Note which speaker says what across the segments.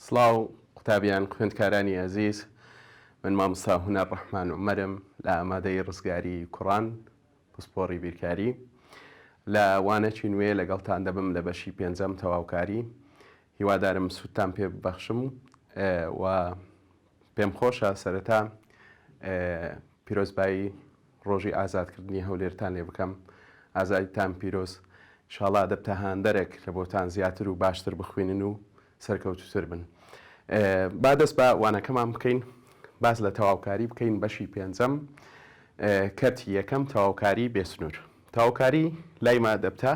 Speaker 1: سڵاو قوتابیان خوێندکارانی ئەزیز من مامسا هونەر ڕەحمان عمەرم لە ئامادەی ڕزگاری کوڕان پسپۆڕی بیرکاری لە وانەکی نوێ لەگەڵتان دەبم لە بەشی پێنجەم تەواوکاری هیوادارم سوودتان پێ ببەخشم و پێم خۆشە سەرەتا پیرۆزبایی ڕۆژی ئازادکردنی هەولێرتان لێ بکەم ئازادیتان پیرۆز شاڵا دەبتە هاندەرێک لە بۆتان زیاتر و باشتر بخوێنن و سەرکەوتوتر بن با دەست بە وانەکەمان بکەین باز لە تەواوکاری بکەین بەشی پێنجەم کەرتی یەکەم تەواوکاری بێسنوور تەواوکاری لای ما دەبتە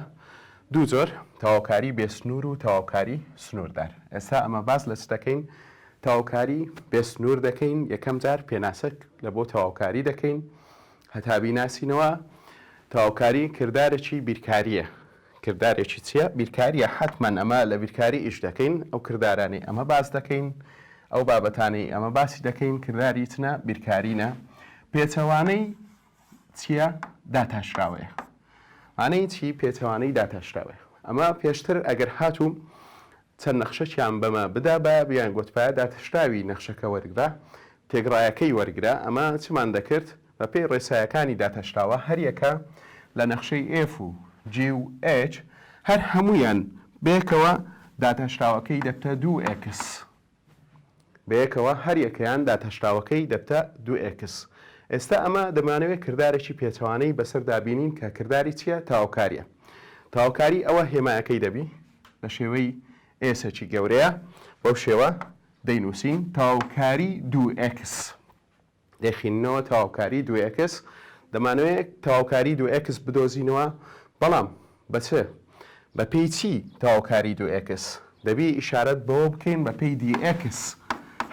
Speaker 1: دوو جۆر، تەواوکاری بێ سنوور و تەواوکاری سنووردار. ئێستا ئەمە باس لە چ دەکەین؟ تەواوکاری بێ سنوور دەکەین، یەکەم جار پێناسە لە بۆ تەواوکاری دەکەین هەتا بیناسینەوە. تەواوکاری کردارێکی بیرکارییە. کردارێکی چییە؟ بیرکارییە، حەتمەن ئەمە لە بیرکاری ئیش دەکەین، ئەو کردارانەی ئەمە باس دەکەین، ئەو بابەتانەی ئەمە باسی دەکەین کرداری چنە؟ بیرکارینە. پێچەوانەی چیە داتاشراوەیە مانەی چی پێچەوانەی داتاشراوەیە ئەمە پێشتر ئەگەر هاتوو چەند نەخشەکیان بەمە بدا بە بیان گوتپایە داتشراوی نەخشەکە وەرگرە تێگڕایەکەی وەرگرە ئەمە چمان دەکرد بە پێی ڕێسایەکانی داتاشراوە هەریەکە لە نەخشەی ئف و جی و ئچ هەر هەمویان بەیەکەوە داتاشراوەکەی دەبتە دوو ئێکس بەیەکەوە هەر یەکەیان داتاشراوەکەی دەبتە دوو ئێکس ئێستا ئەمە دەمانەوێ کردارێکی پێچەوانەی بەسەر دابینین کە کرداری چیە تاوکاریە تاوکاری ئەوە هێمایەکەی دەبی لە شێوەی ئێسەکی گەورەیە بەو شێوە دەینوسین تاوکاری دوو ئێکس دەیخیننەوە تەواوکاری دوو ئێکس دەمانەوێ تەواوکاری دوو ئێکس بدۆزینەوە بەڵام بە چ؟ بە پێی چی تەواوکاری دوو ئێکس؟ دەبی ئیشارەت بەوە بکەین بە پێی دی ئێکس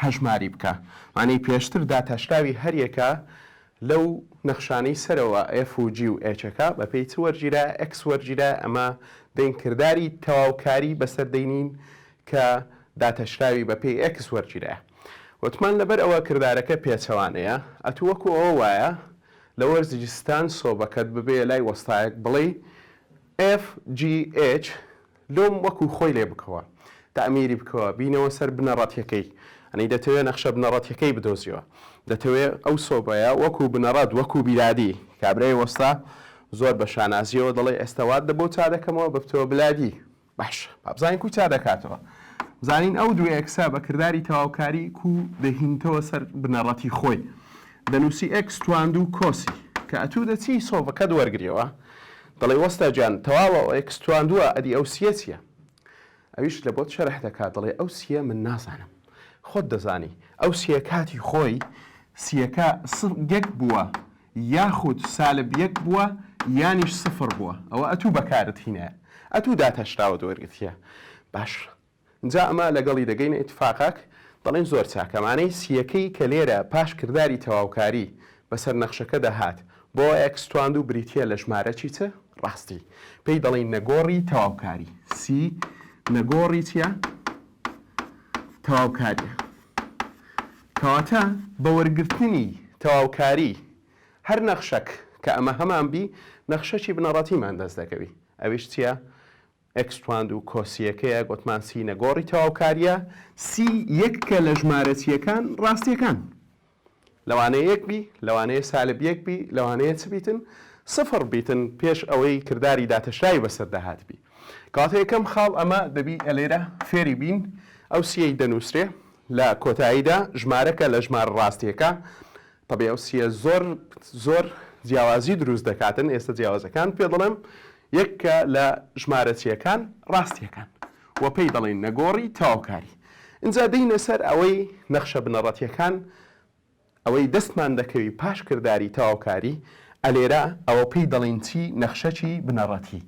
Speaker 1: هەژماری بکە وانەی پێشتر داتاشراوی هەر یەکە لەو نەخشانەی سەرەوە ئێف و جی و ئێچەکە بە پێی چ وەرگیرا ئێکس وەرگیرا ئەمە دەین کرداری تەواوکاری بەسەر دەینین کە داتاشراوی بە پێی ئێکس وەرگیرایە وتمان لەبەر ئەوە کردارەکە پێچەوانەیە ئەتوو وەکو ئەوە وایە لە وەرزی ستان سۆبەکەت ببێ لای وەستایەک بڵێی ئێف جی ئێچ لۆم وەکو خۆی لێ بکەوە تەعمیری بکەوە بینەوە سەر بنەڕەتیەکەی ئەنی دەتەوێ نەخشە بنەڕەتیەکەی بدۆزیەوە دەتەوێ ئەو سۆبەیە وەکو بنەڕەت وەکو بیرادی کابرای وەستا زۆر بە شانازیەوە دەڵێ ئێستا وات لە بۆ چا دەکەمەوە ببتەوە بلادی باشە با بزانین کو چا دەکاتەوە. بزانین ئەو دوو ئێکسە بە کرداری تەواوکاری کو دەهینتەوە سەر بنەڕەتی خۆی. دەنووسی ئێکس تواندوو کۆسی. کە ئەتوو دەچی سۆڤەکەت وەرگریەوە دەڵێی وەستا گیان تەواوە ئێکس تواندووە ئەدی ئەو سیە چیە؟ ئەویش لە بۆت شەرح دەکا دەڵێ ئەو سیە من نازانم خۆت دەزانی. ئەو سیە کاتی خۆی سیەکە یەک بووە یاخود سالب یەک بووە یانیش سفر بووە ئەوە ئەتوو بەکارت هینایە ئەتوو داتاشراوەت وەرگرتیە باش جا ئەمە لەگەڵی دەگەینە ئیتفاقاک دەڵێین زۆر چاکە مانەی سیەکەی کە لێرە پاش کرداری تەواوکاری بەسەر نەخشەکەدا هات بۆ ئێکس تواندو بریتیە لە ژمارە چی چ ڕاستی پێی دەڵێین نەگۆڕی تەواوکاری سی نەگۆڕی چیە تەواوکاریە. کەواتە بە وەرگرتنی تەواوکاری هەر نەخشەک کە ئەمە هەمان بی نەخشەکی بنەڕەتیمان دەست دەکەوی ئەویش چیە؟ ئێکس توان دوو کۆسییەکەیە گۆتمان سی نەگۆڕی تەواوکاریە سی یەککە لە ژمارە چیەکان ڕاستیەکان لەوانەیە یەک بی لەوانەیە سالب یەک بی لەوانەیە چ بیتن سفڕ بیتن پێش ئەوەی کرداری داتەشراوی بەسەردا هاتبی. کەواتە یەکەم خاڵ ئەمە دەبی ئەلێرە فێری بین ئەو سیەی دەنووسرێ لە کۆتاییدا ژمارەکە لە ژمار ڕاستیەکە تەبێ ئەو سیە زۆر زۆر جیاوازی دروست دەکاتن ئێستا جیاوازەکان پێ دەڵێم یەک کە لە ژمارەچیەکان ڕاستیەکان وە پێی دەڵێن نەگۆڕی تاوکاری اینجا دینە سەر ئەوەی نەخشە بنەڕەتیەکان ئەوەی دەستمان دەکەوی پاش کرداری تەواوکاری، ئەلێرە ئەوە پێی دەڵێین چی؟ نەخشەچی بنەڕەتی.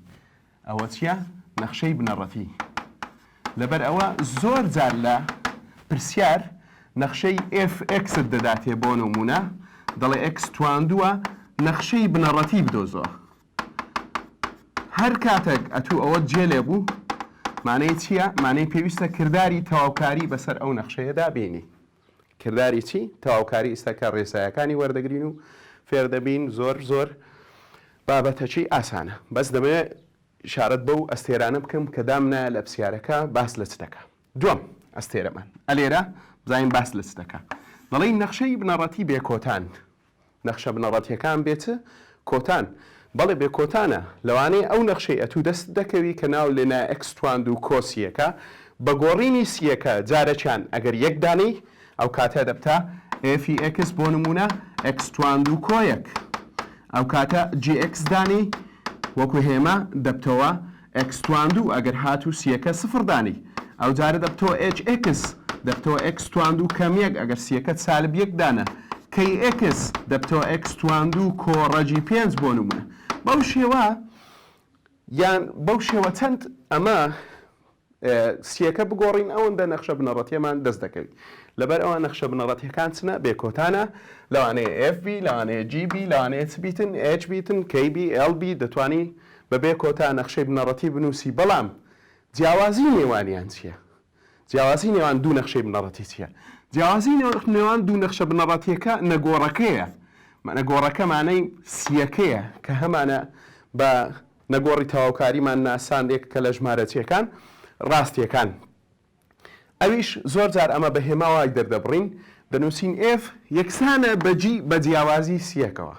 Speaker 1: ئەوە چیە؟ نەخشەی بنەڕەتی. لەبەر ئەوە زۆر جار لە پرسیار نەخشەی ئێف ئێکست دەداتێ بۆ نموونە دەڵێ ئێکس تواندووە نەخشەی بنەڕەتی بدۆزەوە. هەر کاتەک ئەتوو ئەوەت جێ لێ بوو، مانەی چیە؟ مانەی پێویستە کرداری تەواوکاری بەسەر ئەو نەخشەیەدا بینی. کرداری چی؟ تەواوکاری ئیستەکە ڕێسایەکانی وەردەگرین و فێر دەبین زۆر زۆر بابەتەکی ئاسانە بەس دەمەوێ شارەت بەو ئەستێرانە بکەم کە دامنایە لە پسیارەکە باس لە چ دەکا دوم ئەستێرەمان ئەلێرە بزانین باس لە چ دەکا دەڵێی نەخشەی بنەڕەتی بێکۆتان نەخشە بنەڕەتیەکان بێ چ کۆتان؟ بەڵێ بێ کۆتانە، لەوانەیە ئەو نەخشەی ئەتوو دەستت دەکەوی کە ناو لێنا ئێکس تواند و کۆ سیەکە بە گۆڕینی سیەکە جارەکیان ئەگەر یەک دانێی ئەوکاتە دەبتە ئێفی ئێکس بۆ نموونە ئێکس تواند و کۆ یەک ئەوکاتە جی ئێکس دانێی وەکو هێما دەبتەوە ئێکس توان دوو ئەگەر هاتوو سییەکە سفڕ دانێی ئەوجارە دەبتەوە ئێچ ئێکس دەبتەوە ئێکس توان دوو کەم یەک ئەگەر سییەکەت سالب یەک دانە کەی ئێکس دەبتەوە ئێکس توان دوو کۆڕەجی پێنج بۆ نموونە بەو شێوە یان بەو شێوە چەند ئەمە سییەکە بگۆڕین ئەوەندە نەخشە بنەڕەتیەمان دەست دەکەوین لەبەر ئەوە نەخشە بنەڕەتیەکان چنە بێکۆتانە لەوانەیە FB لەوانەیە GB لەوانەیە چ بیتن HB تن KB LB دەتوانی بەبێ کۆتا نەخشەی بنەڕەتی بنووسی، بەڵام جیاوازیی نێوانیان چییە؟ جیاوازیی نێوان دوو نەخشەی بنەڕەتی چییە؟ جیاوازیی نێوان دوو نەخشە بنەڕەتییەکە نەگۆڕەکەیە، نەگۆڕەکە مانای سییەکەیە، کە هەمانە بە نەگۆڕی تەواوکاریمان ناساند، یەکەکە لە ژمارەچییەکان ڕاستییەکان. ئەویش زۆر جار ئەمە بە هێما وای دەردەبڕین دەنووسین ئێف یەکسانە بە جی بە جیاوازی سیەکەوە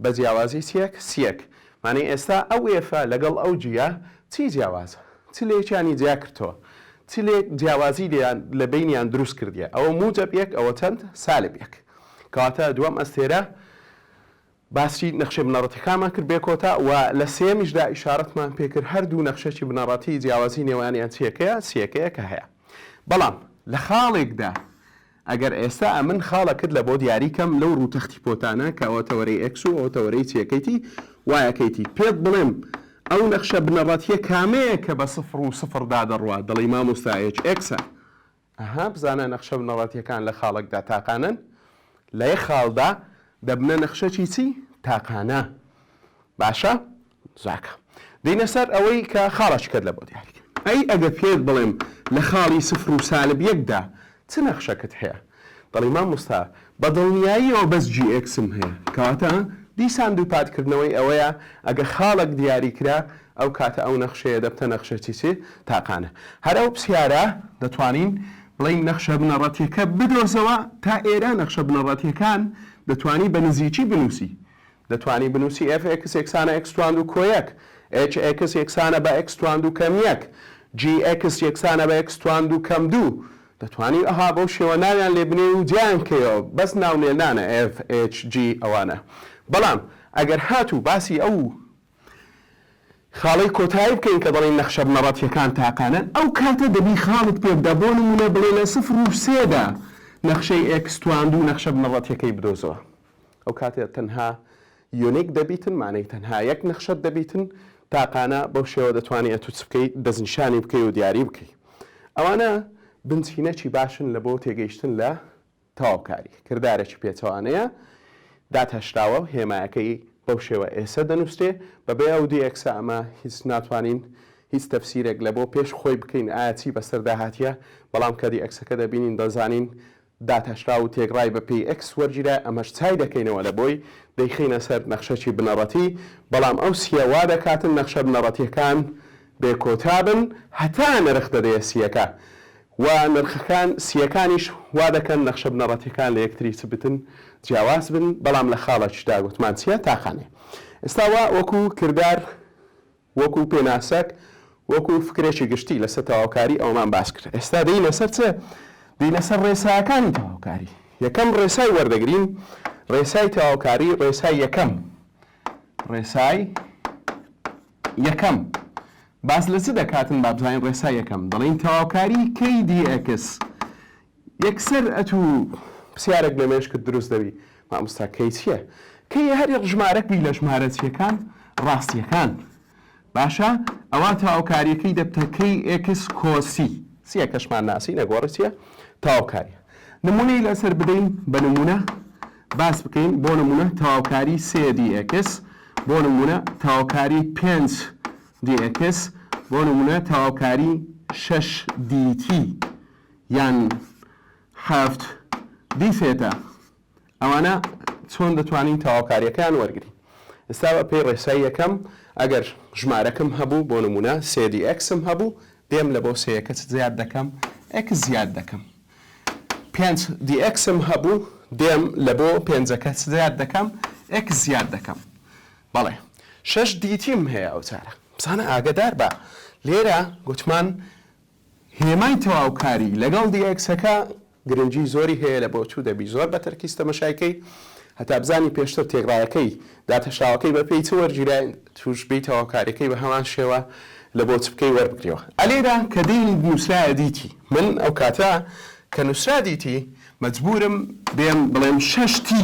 Speaker 1: بە جیاوازی چیەک سیەک مانای ئێستا ئەو ئێفە لەگەڵ ئەو جیە چی جیاوازە چ لەیەکیانی جیا کردەوە چ لێک جیاوازی لێیان لە بینیان دروست کردیە ئەوە موجەب یەک ئەوە چەند سالب یەک کەواتە دووەم ئەستێرە باسی نەخشە بنەڕەتیەکانمان کرد بێ کۆتا و لە سێیەمیشدا ئیشارەتمان پێ کرد هەر دوو نەخشەی بنەڕەتی جیاوازی نێوانیان چیەکەیە سیەکەیە کە هەیە بەڵام لە خاڵێکدا ئەگەر ئێستا ئەمن خاڵەکت لە بۆ دیاری کەم لەو ڕوو تەختی پۆتانە کە ئەوە تەوەرەی ئێکس و ئەوە تەوەرەی سیەکەیتی وایەکەیتی پێت بڵێم ئەو نەخشە بنەڕەتیە کامەیە کە بە سفر و سفر دا دەڕوات دەڵێی مامۆستا ئێچ ئێکسە ئەها بزانە نەخشە بنەڕەتیەکان لە خاڵەکدا تاقانەن لە یەک خاڵدا دەبنە نەخشەکی چی؟ تاقانە باشە زاکە دینە سەر ئەوەی کە خاڵەکەت لە بۆ دیاری کرد ئەی ئەگەر پێت بڵێم لە خاڵی سفر و سالب یەکدا چ نەخشەکەت هەیە دەڵی مامۆستا بە دڵنیاییەوە بەس جی ئێکسم هەیە کەواتە دیسان دووپات کردنەوەی ئەوەیە ئەگە خاڵەک دیاری کرا ئەو کاتە ئەو نەخشەیە دەبتە نەخشە چی چی تاقانە هەر ئەو پسیارە دەتوانین بڵێین نەخشە بنەڕەتیەکە بدۆزەوە تا ئێرە نەخشە بنەڕەتیەکان دەتوانی بە نزیکی بنووسی دەتوانی بنووسی ئێف ئێکس یەکسانە ئێکس تواندو کۆ یەک، ئێچ ئێکس یەکسانە بە ئێکس تواندو کەم یەک، جی ئێکس یەکسانە بە ئێکس تواندو کەم دوو. دەتوانی ئەها بەو شێوە ناویان لێ بنێی و جیایان بکەیەوە، بەس ناونێنانە ئێف ئێچ جی ئەوانە. بەڵام ئەگەر هاتوو باسی ئەو خاڵەی کۆتایی بکەین کە دەڵێین نەخشە بنەڕەتییەکان تاقانەن، ئەو کاتە دەبی خاڵت پێ بدا، بۆ نموونە بڵێ لە سفر و سێ دا نەخشەی ئێکس تواندو نەخشە بنەڕەتییەکەی بدۆزەوە. ئەو کاتێ تەنها یونیک دەبیتن مانەی تەنها یەک نەخشەت دەبیتن تاقانە بەو شێوە دەتوانی ئەتو چ بکەی دەستنیشانی بکەی و دیاری بکەی ئەوانە بنچینەکی باشن لە بۆ تێگەیشتن لە تەواوکاری کردارێکی پێچەوانەیە داتاشراوە و هێمایەکەی بەو شێوە ئێسە دەنووسێ بەبێ ئەو دی ئەکسە ئەمە هیچ ناتوانین هیچ تەفسیرێک لە بۆ پێش خۆی بکەین ئایا چی بەسەر داهاتیە بەڵام کە دی ئەکسەکە دەبینین دەزانین داتاشراو و تێکڕای بە پێی ئێکس وەرگیرا، ئەمەش چای دەکەینەوە لە بۆی، دەیخەینە سەر نەخشەکی بنەڕەتی، بەڵام ئەو سییە وا دەکاتن نەخشە بنەڕەتییەکان بێ کۆتا بن هەتا نرخ دەدەیە سییەکە و نرخەکان سییەکانیش وا دەکەن نەخشە بنەڕەتییەکان لە یەکتری چ بتن جیاواز بن، بەڵام لە خاڵەکیشدا گوتمان چییە؟ تاقانەیە. ئێستا وا وەکوو کردار. وەکو پێناسەک، وەکو فکرێکی گشتی لەسەر تەواوکاری ئەوەمان باس کرد. ئێستا دێینە سەر چ؟ دێینە سەر ڕێساکانی تەواوکاری. یەکەم ڕێسای وەردەگرین، ڕێسای تەواوکاری، ڕێسای یەکەم. ڕێسای یەکەم. باس لە چ دەکاتن با بزانین ڕێسای یەکەم؟ دەڵێین تەواوکاری KDX یەکسەر ئەتو پسیارەک لە مێشکت دروست دەبی ماموستا کەی چیە کەی هەر ژمارەک بی لە ژمارە چیەکان ڕاستیەکان باشە ئەوا تاوکاریەکەی دەبتە کەی ئێکس کۆسی سیە کەشمان ناسی نەگۆڕی چیە تاوکاریە نمونەی لەسەر بدەین بە نمونە باس بکەین بۆ نمونە تاوکاری سێ دی ئێکس بۆ نمونە تاوکاری پێنج دی ئێکس بۆ نمونە تاوکاری شەش دیتی یان حەفت دیفێتە ئەوانە چۆن دەتوانین تەواوکاریەکەیان وەرگین ئستا بە پێی ڕێسای یەکەم ئەگەر ژمارەکەم هەبوو بۆ نمونە سێدی ئەکسم هەبوو دێم لە بۆ سەیەکە چ زیاد دەکەم ئەکس زیاد دەکەم پێنج دی ئەکسم هەبوو دێم لە بۆ پێنجەکە چ زیاد دەکەم ئەکس زیاد دەکەم بەڵێ شەش دیتیم هەیە ئەو چارە بزانە ئاگدار بە لێرە گوتمان هێمای تەواوکاری لەگەڵ دیێکسەکە گرنگی زۆری هەیە لە بۆچوو دەبی زۆر بە تەرکیز تەمەشای کەی هەتا بزانی پێشتر تێکڕایەکەی داتەشاوەکەی بە پێی چ وەرگیرای توش بی تەواوکاریەکەی بە هەمان شێوە لە بۆچ بکەی وەربگریەوە ئەلێرا کە دینیت نوسرایە دیتی من ئەو کاتە کە نوسرا دیتی مەجبورم بێم بڵێم شەش تی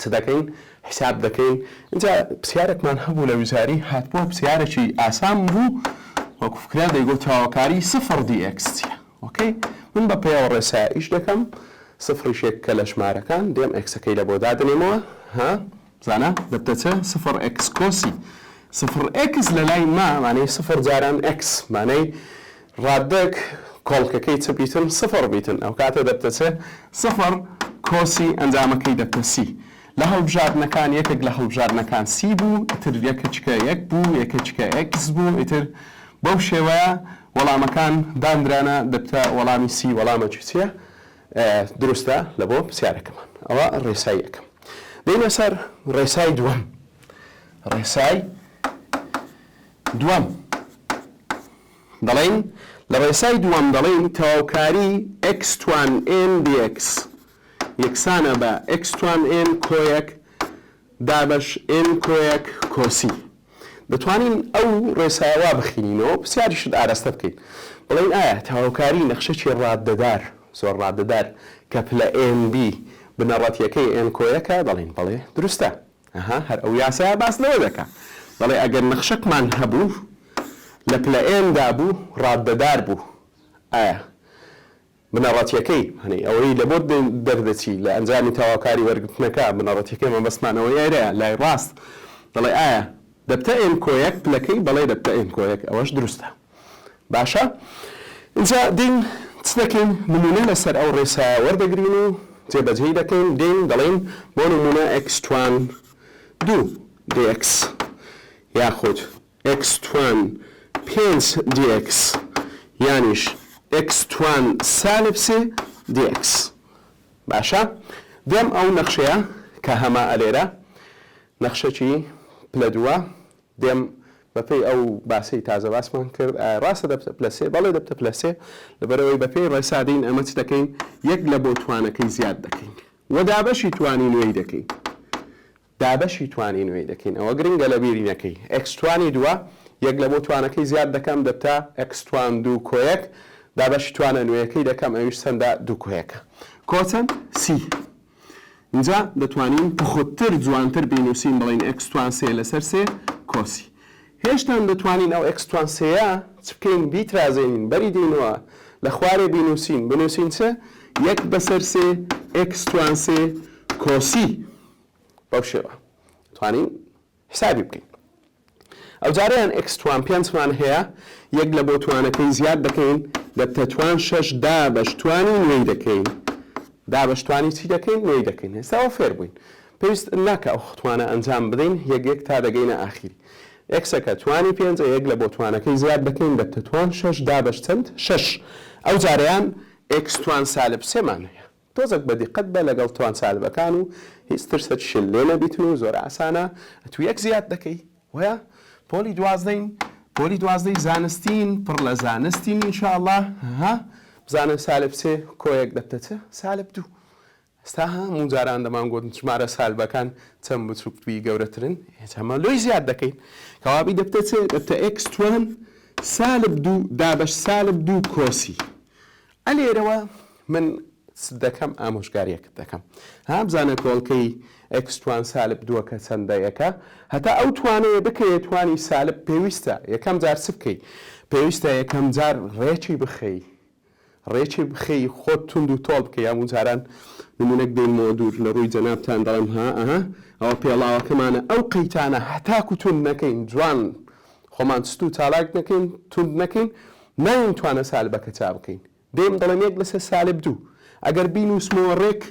Speaker 1: چ دەکەین حیساب دەکەین ئینجا پسیارێکمان هەبوو لە وزاری هاتبوو پسیارێکی ئاسان بوو وەکو فکرە دەیگۆ تاوەکاری سفر دی ئێکس چیە ئۆکەی من بە پێوە ڕێسا ئیش دەکەم سفری شێک کە لە ژمارەکان دێم ئێکسەکەی لە بۆ دادنێمەوە ها زانە دەبتەچە سفر ئێکس کۆسی سفر ئێکس لە لای ما مانەی سفر جاران ئێکس مانەی ڕاددەک کۆڵکەکەی چ بیتن سفڕ بیتن ئەوکاتە دەبتەچێ سفڕ کۆسی ئەنجامەکەی دەبتە سی لە هەڵبژاردنەکان یەکێک لە هەڵبژاردنەکان سی بوو ئیتر یەکەچکە یەک بوو یەکەچکە ئێکس بوو ئیتر بەو شێوەیە وەڵامەکان داندرانە دەبتە وەڵامی سی وەڵامە چیە دروستە لە بۆ پرسیارەکەمان ئەوە ڕێسای یەکەم دەینە سەر ڕێسای دووەم ڕێسای دووەم دەڵێین، لە ڕێسای دووەم دەڵێین تەواوکاری ئێکس توان ئێن دیئێکس یەکسانە بە ئێکس توان ئێن کۆیەک دابەش ئێن کۆیەک کۆسی. دەتوانین ئەو ڕێسایە وا بخینینەوە، پرسیاریشت ئارەستە بکەین. بڵێین ئایا تەواوکاری نەخشەکی ڕاددەدار، زۆر ڕاددەدار، کە پلە ئێن بی بنەڕەتییەکەی ئێن کۆیەکە؟ دەڵێین بەڵێ، دروستە. ئەها هەر ئەو یاسایە باس لەوە دەکا دەڵێ ئەگەر نەخشەکمان هەبوو لە پلە ئێن دا بوو ڕاددەدار بوو ئایا بنەڕەتیەکەی هەنەی ئەوەی لە بۆت دەردەچی لە ئەنجامی تەواوکاری وەرگرتنەکە بنەڕەتیەکەی مەبەستمان ئەوەی ئێرەیە لای ڕاست دەڵێ ئایا دەبتە ئێن کۆیەک پلەکەی بەڵێ دەبتە ئێن کۆیەک ئەوەش دروستە. باشە ئینجا دێین چ دەکەین نمونە لەسەر ئەو ڕێسایە وەردەگرین و جێبەجێی دەکەین دێین دەڵێین بۆ نمونە ئێکس توان دوو دی ئێکس یاخود ئێکس توان پێنج دی ئێکس یانیش ئێکس توان سالب سێ دی ئێکس باشە دێم ئەو نەخشەیە کە هەمە ئەلێرە نەخشەکی پلە دووە دێم بە پێی ئەو باسەی تازە باسمان کرد ئایا ڕاستە دەبتە پلە سێ؟ بەڵێ دەبتە پلە سێ لەبەرئەوەی بە پێی ڕێسا دێین ئەمە چ دەکەین یەک لە بۆ توانەکەی زیاد دەکەین و دابەشی توانی نوێی دەکەین دابەشی توانی نوێی دەکەین ئەوە گرنگە لە بیری نەکەی ئێکس توانی دووە یەک لە بۆ توانەکەی زیاد دەکەم دەبتە ئێکس توان دوو کۆیەک دابەشی توانە نوێیەکەی دەکەم ئەویش چەندە دوو کۆیەکە کۆچەند سی ئینجا دەتوانین پوختتر جوانتر بینوسین بڵێین ئێکس توان سێ لەسەر سێ کۆسی. هێشتان دەتوانین ئەو ئێکس توان سێیە چ بکەین بیترازێنین بەری دێینەوە لە خوارێ بینوسین بنوسین چ یەک بەسەر سێ ئێکس توان سێ کۆسی بەو شێوە توانین حسابی بکەین ئەوجارە یان ئێکس توان پێنج توان هەیە یەک لە بۆ توانەکەی زیاد دەکەین لە تەتوان شەش دا بەش توانی نوێی دەکەین دا بەش توانی چی دەکەین نوێی دەکەین هێستاوە فێر بووین پێویست ناکە ئەو توانە ئەنجام بدەین یەک یەک تا دەگەینە ئاخیری ئێکسەکە توانی پێنج یەک لە بۆ توانەکەی زیاد دەکەین لە تەتوان شەش دا بەش چەند شەش ئەو جارەیان ئێکس توان سالب سێمان هەیە تۆزەک بە دیقەت بە لەگەڵ توانسالبەکان و هیچ ترسەت شل لێ نەبیتن و زۆر ئاسانە ئەتو یەک زیاد دەکەی وەیا پۆلی دوازدەین پۆلی دوازدەی زانستین پڕ لە زانستین ان شاء اللە ها بزانە سالب سێ کۆیەک دەبتە چ سالب دوو ئێستا ها مو جاران دەمان گۆتن ژمارە سالبەکان چەند بچوک بی گەورەترن هێچ ئەمە لۆی زیاد دەکەین کەوابی دەبتە چ دەبتە ئێکس توان سالب دوو دابەش سالب دوو کۆسی ئە لێرەوە من چت دەکەم ئامۆژگاریەکت دەکەم ها بزانە کۆڵکەی ئێکس توان سالب دووەکە چەندە یەکە هەتا ئەو توانەیە بکەیە توانی سالب پێویستە یەکەم جار چ بکەی پێویستە یەکەم جار ڕێکی بخەی ڕێکی بخەی خۆت توند و تۆڵ بکەی یامون جاران نمونەک دێنمەوە دوور لە ڕووی جەنابتان دەڵێم ها ئەها ئەوە پێڵاوەکەمانە ئەو قەیتانە هەتاکو توند نەکەین جوان خۆمان ستو چالاک نەکەین توند نەکەین نایەین توانە سالبەکە چا بکەین دێم دەڵێم یەک لەسەر سالب دوو ئەگەر بینوسمەوە ڕێک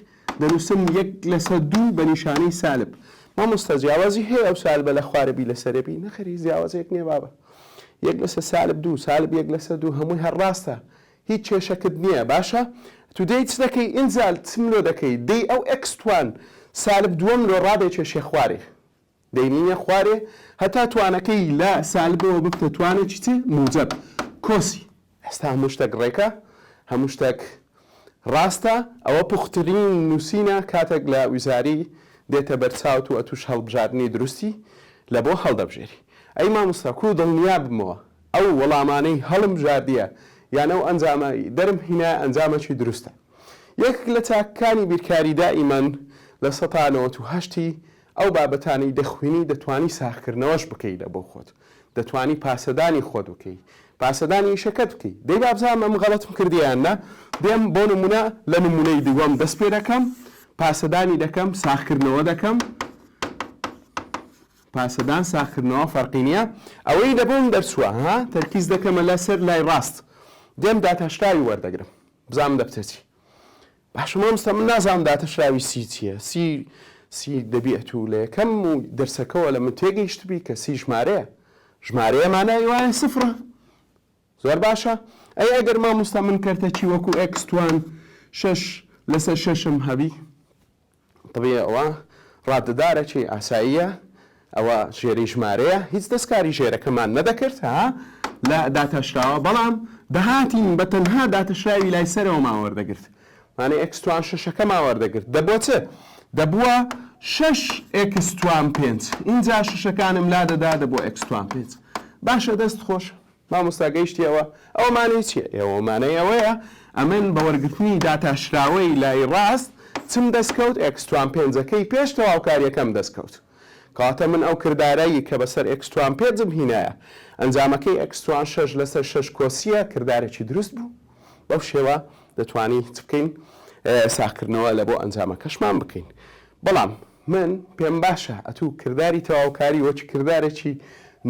Speaker 1: دەنوسم یەک لەسەر دوو بە نیشانەی سالب مامۆستا جیاوازی هەیە ئەو سالبە لە خوارەبی لە سەرەبی نەخێر هیچ جیاوازێک نییە بابە یەک لەسەر سالب دوو سالب یەک لەسەر دوو هەمووی هەر ڕاستە هیچ کێشەکت نییە باشە تو دێی چ دەکەی ئینجا چم لۆ دەکەی دێی ئەو ئێکس توان سالب دووەم لۆ ڕادێکێشێ خوارێ دەیمنیە خوارێ هەتا توانەکەی لە سالبەوە ببتە توانەکی چ؟ موجەب. کۆسی. ئێستا هەموو شتەک ڕێکە، هەموو شتەک ڕاستە، ئەوە پوخترین نووسینە کاتەک لە وزاری دێتە بەر چاوت و ئەتووش هەڵبژاردنی دروستی لە بۆ هەڵدەبژێری. ئەی مامۆستا کوو دڵنیا بمەوە ئەو وەڵامانەی هەڵمبژاردیە یان ئەو ئەنجامە ی دەرم هینایە ئەنجامەکی دروستە. یەکک لە چاکەکانی بیرکاری دائیمەن لە سەتا نەوەت و هەشتی ئەو بابەتانەی دەخوینی دەتوانی ساغکردنەوەش بکەی لە بۆ خۆت دەتوانی پاسەدانی خۆت بکەی پاسەدانی ئیشەکەت بکەی دەی بابزانم ئەم غەڵەتم کردی یان نا دێم بۆ نمونە لە نمونەی دووەم دەست پێ دەکەم پاسەدانی دەکەم ساغکردنەوە دەکەم پاسەدان ساغکردنەوە فەرقی نییە ئەوەی لە بۆم دەرچووە ها تەرکیز دەکەمە لە سەر لای ڕاست دێم داتاشراوی وەردەگرم بزانم دەبچێ چی باشە ماموستا من نازانم داتەشراوی سی چیە سی سی دەبیت و لەیەکەم و دەرسەکەوە لە من تێگەیشتبی کە سی ژمارەیە ژمارەیە مانای وایە سفرە زۆر باشە ئەی ئەگەر ماموستا من کەرتەکی وەکو ئێکس توان شەش لەسەر شەشم هەبی طبیعی ئەوە ڕادەدارەکی ئاساییە، ئەوە ژێری ژمارەیە، هیچ دەستکاری ژێرەکەمان نەدەکرد ها لە داتاشراوە، بەڵام دەهاتین بە تەنها داتەشراوی لای سەرەوەمان وەردەگرت، مانای ئێکستوان شەشەکەمان وەردەگرت، دەبووە چ؟ دەبووە شەش ئێکستوان پێنج، ئینجا شەشەکانم لادەدا دەبووە ئێکستوان پێنج، باشە دەست خۆش. مامۆستا گەیشتی ئەوە؟ ئەوە مانای چیە؟ ئێوە مانای ئەوەیە ئەمن بە وەرگرتنی داتا شراوەی لای ڕاست چم دەست کەوت ئێکستوان پێنجەکەی پێش تەواوکاریەکەم دەست کەوت کەواتە من ئەو کردارە ی کە بەسەر ئێکستوان پێجم هینایە ئەنجامەکەی ئێکستوان شەش لەسەر شەش کۆسیە کردارێکی دروست بوو بەو شێوە دەتوانین چ بکەین ساغکردنەوە لە بۆ ئەنجامەکەشمان بکەین بەڵام من پێم باشە ئەتوو کرداری تەواوکاری وەک کردارێکی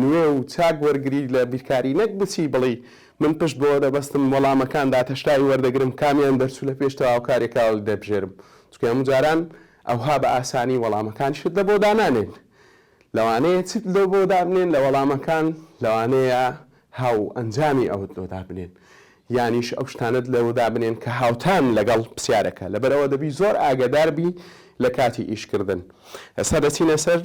Speaker 1: نوێ و چاک وەرگری لە بیرکاری نەک بچی بڵی من پشت بەوە دەبەستم وەڵامەکان داتەشتاوی وەردەگرم کامیان دەرچوو لە پێش تەواوکاریەکە دەبژێرم چونکە هەموو جاران ئەوها بە ئاسانی وەڵامەکانیشت لە بۆ دانانێن لەوانەیە چت لۆ بۆ دابنێن لە وەڵامەکان لەوانەیە هاوئەنجامی ئەوەت لۆ دابنێن یانیش ئەو شتانەت لۆ دابنێن کە هاوتان لەگەڵ پرسیارەکە لەبەر ئەوە دەبی زۆر ئاگەدار بی لە کاتی ئیش کردن ئێستا دەچینە سەر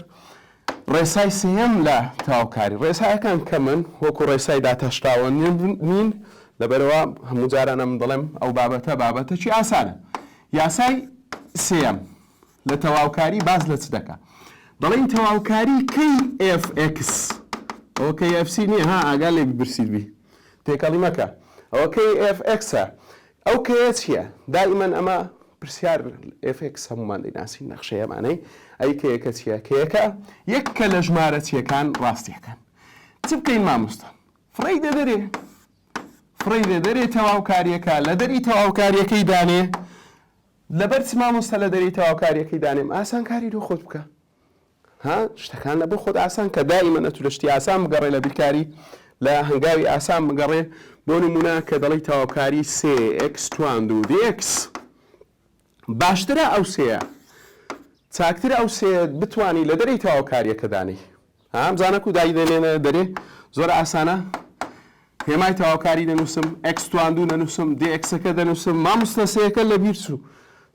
Speaker 1: ڕێسای سێیەم لە تەواوکاری ڕێسایەکان کەمن وەکو ڕێسای داتاشراوە نین لەبەرەوە هەموو جارانە من دەڵێم ئەو بابەتە بابەتەکی ئاسانە یاسای سێیەم لە تەواوکاری باس لە چ دەکا دەڵێین تەواوکاری کەی FX ئەوە کەی FC نییە ها ئاگا لێ ببرسیت بی تێکەڵی مەکە ئەوە کەی FX ئەو کەیە چییە دائیمەن ئەمە پرسیار FX هەمومان دەیناسین نەخشەیەمانەی ئەی کەیەکە چییە کەیەکە یەک کە لە ژمارە چیەکان ڕاستیەکان چ بکەین مامۆستا فڕی دەدەرێ فڕی دەدەرێ تەواوکاریەکە لە دەری تەواوکاریەکەی دانێ لەبەر چ مامۆستا لە دەرێی تەواوکاریەکەی دانێم ئاسان کاری لۆ خۆت بکە ها شتەکان لە بۆ خۆت ئاسان کە دایمەن ئەتو لە شتی ئاسان بگەڕێ لە بیرکاری لە هەنگاوی ئاسان بگەڕێ بۆ نمونە کە دەڵی تەواوکاری سێ ئکس تواند و دێکس باشترە ئەو سێە چاکتر ئەو سێ بتانی لە دەرەی تەواوکاریەکە دانێی ها ئەم زانە کو دای دەنێنە دەرێ زۆر ئاسانە هێمای تەواوکاری دەنووسم ئەکس تواندوو نەنووسم دێ ئەکسەکە دەنووسم ماموستا سەیەکە لە بیر چوو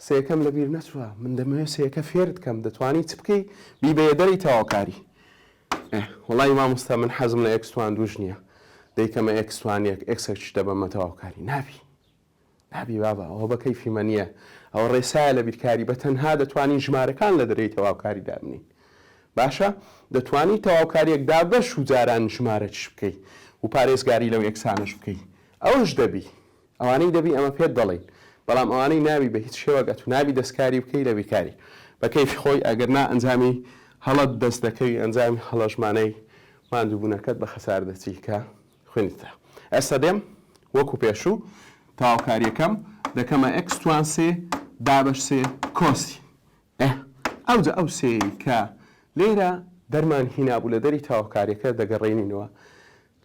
Speaker 1: سەیەکەم لە بیر نەچووە من دەمەوێت سەیەکە فێرت کەم دەتوانی چ بکەی بیبەیە دەری تەواوکاری وڵی ماموستا من حەزم لە ئەکس تواندووش نییە دەیکەمە ئەکسوانیەک ئەکسەکش دەبەمە تەواوکاری نابی نابی بابە ئەوە بەکەیفی مە نیە ئەوە ڕێسایە لە بیرکاری بە تەنها دەتوانین ژمارەکان لە دەرەی تەواوکاری دابنین باشە دەتوانی تەواوکاریەک دابەش و جاران ژمارە چش بکەی و پارێزگاری لەو یەکسانەش بکەی ئەوش دەبی ئەوانەی دەبی ئەمە پێت دەڵین بەڵام ئەوانەی ناوی بە هیچ شێوەگە تو نابی دەستکاری بکەی لە بیرکاری بە کەیفی خۆی ئەگەر نا ئەنجامی هەڵەت دەست دەکەوی ئەنجامی هەڵەشمانەی ماندوبونەکەت بە خەسار دەچی کە خوێنی ترە ئێستا دێم وەکو پێشوو تەواوکاریەکەم دەکەمە ئەکس توان سێ دابەش سێ کۆسی ئە ئەوجە ئەو سێ کە لێرە دەرمان هینابوو لە دەری تاوکاریەکە دەگەڕێنینەوە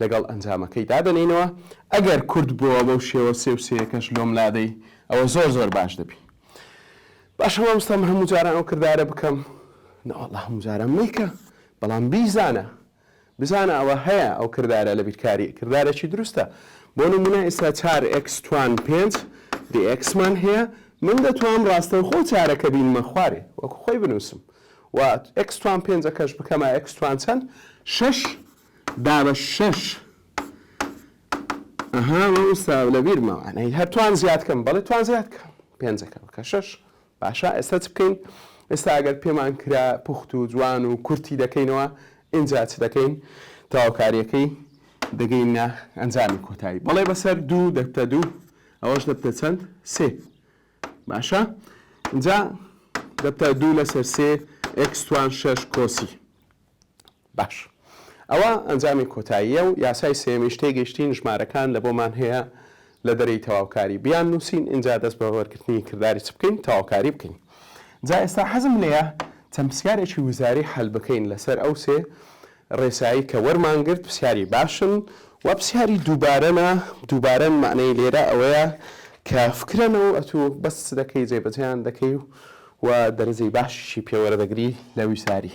Speaker 1: لەگەڵ ئەنجامەکەی دادەنینەوە ئەگەر کورد بووە بەو شێوە سێ و سێەکەش لۆم لادەی ئەوە زۆر زۆر باش دەبی باش هەمامستەم هەموو جاران ئەو کردارە بکەم ناوەڵ هەموو جاران میکە بەڵام بیزانە بزانە ئەوە هەیە ئەو کردارە لە بیرکاری کردارەکی دروستە بۆ نمونە ئیستا چار ئێکس توان پێنج دی ئێکسمان هەیە من دەتوام ڕاستەوخۆ چارەکە بینمە خوارێ وەکو خۆی بنووسم و ئێکس توان پێنجەکەش بکەمە ئێکس توان چەند شەش دا بە شەش ئەها ئیستا لە بیرمەوانەی هەر توان زیاد کەم بەڵێ توان زیاد کەم پێنجەکە بکە شەش باشە ئێستا چ بکەین؟ ئێستا ئەگەر پێمان کرا پوخت و جوان و کورتی دەکەینەوە ئینجا چ دەکەین؟ تەواوکاریەکەی دەگەینە ئەنجامی کۆتایی بەڵێ بەسەر دوو دەبتە دوو ئەوەش دەبتە چەند؟ سێ باشە ئینجا دەبتە دوو لەسەر سێ ئێکس توان شەش کۆسی باش ئەوە ئەنجامی کۆتاییە و یاسای سێیەمیش تێگەیشتین ژمارەکان لە بۆمان هەیە لە دەرێی تەواوکاری بیان نووسین ئینجا دەست بە وەرگرتنی کرداری چ بکەین تەواوکاری بکەین جا ئێستا حەزم لێیە چەند پرسیارێکی وزاری حەل بکەین لەسەر ئەو سێ ڕێسایی کە وەرمان گرت پرسیاری باشن و پرسیاری دووبارەنە دووبارەن معنەی لێرە ئەوەیە کە فکرەنە و ئەتوو بەس دەکەی جێبەجێیان دەکەی و و دەرەجەی باشیشی پێوەرە دەگری لە ویساری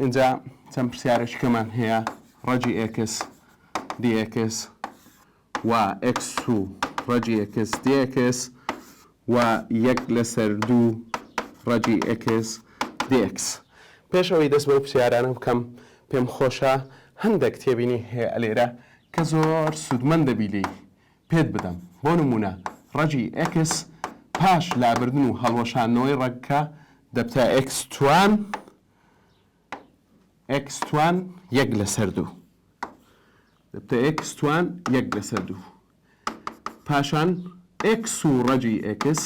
Speaker 1: ئینجا چەند پرسیارێکی کەمان هەیە ڕەجی ئێکس دی ئێکس و ئێکس و ڕەجی ئێکس دی ئێکس و یەک لەسەر دوو ڕەجی ئێکس دی ئێکس پێش ئەوەی دەست بەو پرسیارانە بکەم پێم خۆشە هەندێک تێبینی هەیە لێرە کە زۆر سوودمەند دەبی لێی پێت بدەم بۆ نموونە ڕەگی ئێکس پاش لابردن و هەڵوەشاندنەوەی ڕەگکە دەبتە ئێکس توان ئێکس توان یەک لەسەر دوو دەبتە ئێکس توان یەک لەسەر دوو پاشان ئێکس و ڕەگی ئێکس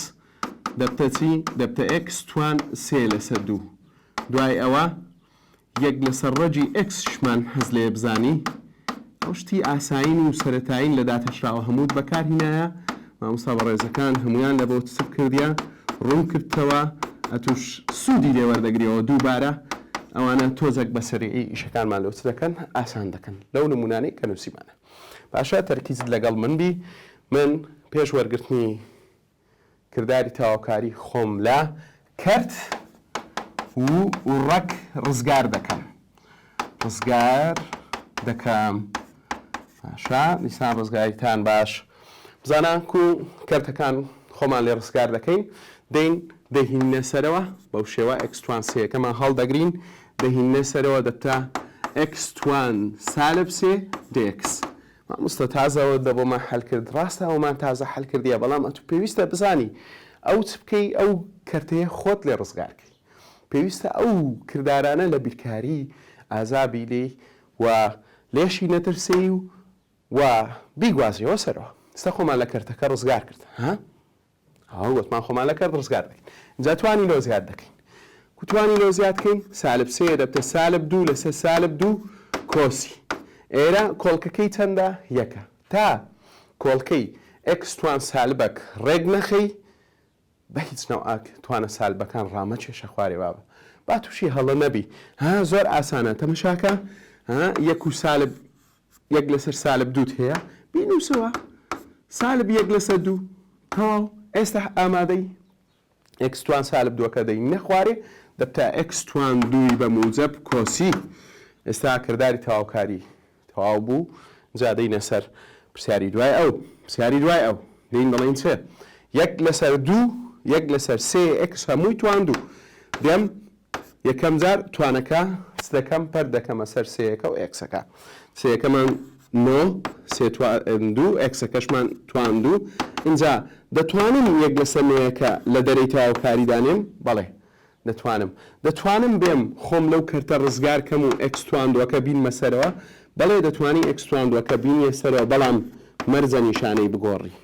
Speaker 1: دەبتە چی دەبتە ئێکس توان سێ لەسەر دوو دوای ئەوە یەک لەسەر ڕەگی ئێکسشمان حەز لێیە بزانی ئەو شتی ئاسایین و سەرەتایین لە داتاشراوە هەمووت بەکارهینایە ماموسا بەڕێزەکان هەمویان لە بۆ تسب کردیە ڕوون کردتەوە ئەتوش سودی لێ وەردەگریەوە دووبارە ئەوانە تۆزەک بەسەریعی ئیشەکانمان لۆ چ دەکەن ئاسان دەکەن لەو نمونانەی کە نوسیمانە باشە تەرکیزت لەگەڵ من بی من پێش وەرگرتنی کرداری تەواوکاری خۆم لە کەرت و ڕەگ ڕزگار دەکەم. ڕزگار دەکەم. باشە دیسان ڕزگاریتان باش بزانە کو کەرتەکان خۆمان لێ ڕزگار دەکەین دەین دەهینە سەرەوە بەو شێوە ئەکسوان سێەکەمان هەڵدەگرین دەهینە سەرەوە دەتە ئەکسوان سالب سێ دێکس مامۆستا تازە ئەوەت لە بۆمان حەل کرد ڕاستە ئەومان تازە حەل کردیە بەڵام ئەتوو پێویستە بزانی ئەو چ بکەی ئەو کەرتەیە خۆت لێ ڕزگار کەی پێویستە ئەو کردارانە لە بیرکاری ئازا بی لێی و لێشی نەترسێی و و بیگوازیەوە سەرەوە ئێستا خۆمان لە کەرتەکە ڕزگار کرد ها؟ ئەوە گۆتمان خۆمان لە کەرت ڕزگار دەکەین جا توانی لۆ زیاد دەکەین کو توانی لۆ زیاد کەین سالب سێ دەبتە سالب دوو لەسەر سالب دوو کۆسی ئێرە کۆڵکەکەی چەندە یەکە تا کۆڵکەی ئەکس توان سالبەک ڕێک نەخەی بە هیچ ناو ئاک توانە سالبەکان ڕامە کێشە خوارێ بابە با تووشی هەڵە نەبی ها زۆر ئاسانە تەمەشاکە یەک و سالب یەک لەسەر سالب دووت هەیە بینوسەوە سالب یەک لەسەر دوو تەواو ئێستا ئامادەی ئێکس توان سالب دووەکە دەی نەخوارێ دەبتە ئێکس توان دووی بە موجب کۆسی ئێستا کردداری تەواوکاری تەواو بوو جادەی نەسەر پرسیاری دوای ئەو پرسیاری دوای ئەو دین دەڵین چێ یەک لەسەر دوو یەک لەسەر سێ ئەکس هەمووی توان دوو دەم یەکەم جار توانەکە سدەکەم پەر دەکەمە سەر سەیەکە و ئێکسەکە سەیەکەمان نۆ سێ دوو ئێکسەکەشمان توان دوو اینجا دەتوانم یەک لەسە نۆیەکە لە دەرەی تەواوکاری دانێم بەڵێ دەتوانم دەتوانم بێم خۆم لەو کەرتە ڕزگار کەم و ئەکستواندوەکە بینمە سەرەوە بەڵێ دەتوانی ئەکستواندوەکە بینیە سەرەوە بەڵام مەرجە نیشانەی بگۆڕی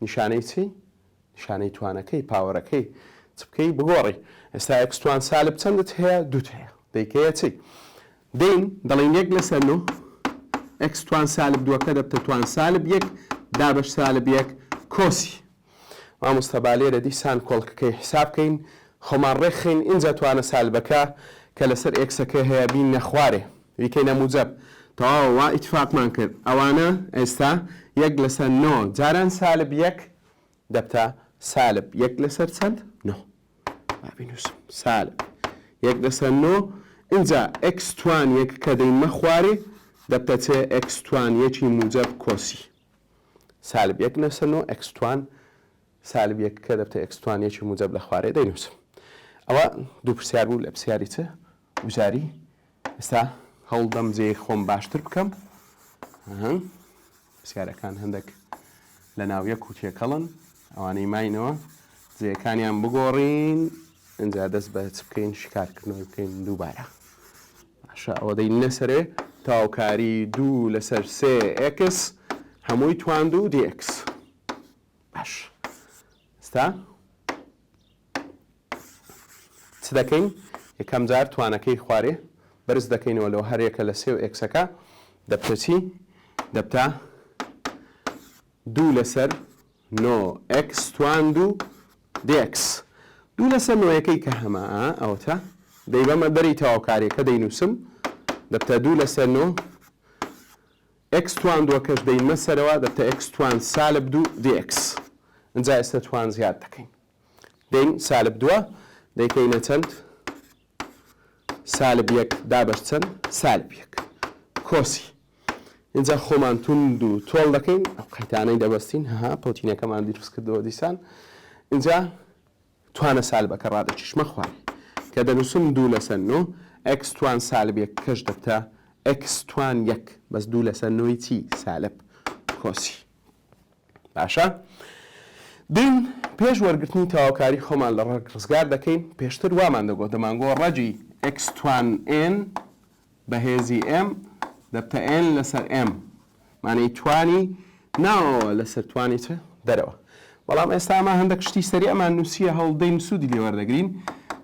Speaker 1: نیشانەی چی؟ نیشانەی توانەکەی پاوەرەکەی چ بکەی بگۆڕی ئێستا ئێکس توان سالب چەندت هەیە دووت هەیە دەیکەیە چی دەین دەڵین یەک لەسەر نۆ ئێکس توان سالب دووەکە دەبتە توان سالب یەک دابش سالب یەک کۆسی مامۆستا با لێرە دیسان کۆڵکەکەی حساب بکەین خۆمان ڕێکخەین ئینجا توانە سالبەکە کە لەسەر ئێکسەکە هەیە بین نەخوارێ یکەی لە موجەب تەواوە وا ئیتفاقمان کرد ئەوانە ئێستا یەک لەسەر نۆ جاران سالب یەک دەبتە سالب یەک لەسەر چەند نۆ با بینوسم سالب یەک لەسەر نۆ ئینجا ئێکس توان یەک کە دەینمە خوارێ دەبتە چێ ئێکس توان یەکی موجەب کۆسی سالب یەک لەسەر نۆ ئێکس توان سالب یەک کە دەبتە ئێکس توان یەکی موجەب لە خوارێ دەینوسم ئەوە دوو پرسیار بوو لە پرسیاری چ وزاری ئێستا هەوڵدەم جێی خۆم باشتر بکەم پرسیارەکان هەندێک لە ناویە کوتیەکەڵن ئەوانەی ماینەوە جێەکانیان بگۆڕین ئەجا دەست بە چ بکەین شکارکردنەوەی بکەین دووبارە باشە ئەوە دەی نەسەرێ تاوکاری دوو لەسەر سێ ئکس هەمووی تواند و دیکس باش ستا چ دەکەین؟ یەکەم جار توانەکەی خوارێ بەرز دەکەینەوە لۆ هەر یەکە لە سێ و ئێکسەکە دەبتە چی؟ دەبتە دوو لەسەر نۆ ئێکس توان دوو دێکس دوو لەسەر نۆیەکەی کە هەمە ئەوەتە دەی بەمە بەری تەواوکاریەکە دەینووسم دەبتە دوو لەسەر نۆ ئێکس توان دووەکەش دەینمە سەرەوە دەبتە ئێکس توان سالب دوو دێکس ئەجا ئێستا توان زیاد دەکەین دەین سالب دووە دەیکەینە چەند سالب یەک دابەش چەند سالب یەک کۆسی اینجا خۆمان توند و تۆڵ دەکەین ئەو قەیتانەی دەبەستین ها پۆتینەکەمان دروست کردەوە دیسان اینجا توانە سالبەکە ڕادەکیشمە خوار کە دەنووسم دوو لەسەر نۆ ئەکس توان سالبێک کەش دەبتە ئەکس توان یەک بەس دوو لەسەر نۆی چی سالب کۆسی باشە دین پێش وەرگرتنی تەواوکاری خۆمان لە ڕەگ ڕزگار دەکەین پێشتر وامان دەگۆ دەمانگۆ ڕەگی ئکس توان ئێن بە هێزی ئێم دەبتە ئێن لەسەر ئێم مانەی توانی ناوەوە لەسەر توانی چ دەرەوە بەڵام ئێستا ئەمە هەندێک شتی سەری ئەمان نووسە هەوڵدەین سوودی لێ وەردەگرین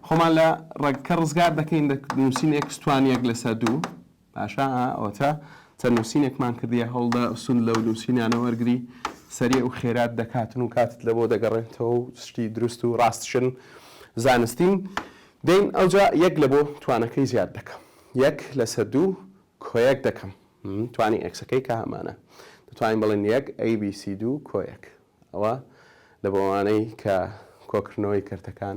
Speaker 1: خۆمان لە ڕەگکە ڕزگار دەکەین نووسین ئکس توانیەک لەسەر دوو باشە ئەوەتا چەند نوسینێکمان کردیە هەوڵدە سود لەو نوسینانە وەرگری سەریع و خێرات دەکاتن و کاتت لەبۆ دەگەڕێنتەوە و شتی دروست و ڕاستشن زانستین دەین ئەوجا یەک لە بۆ توانەکەی زیاد دەکەم یەک لەسەر دوو کۆیەک دەکەم توانی ئەکسەکەی کە هەمانە دەتوانین بڵێن یەک ABC دوو کۆیەک ئەوە لە بۆوانەی کە کۆکردنەوەی کەرتەکان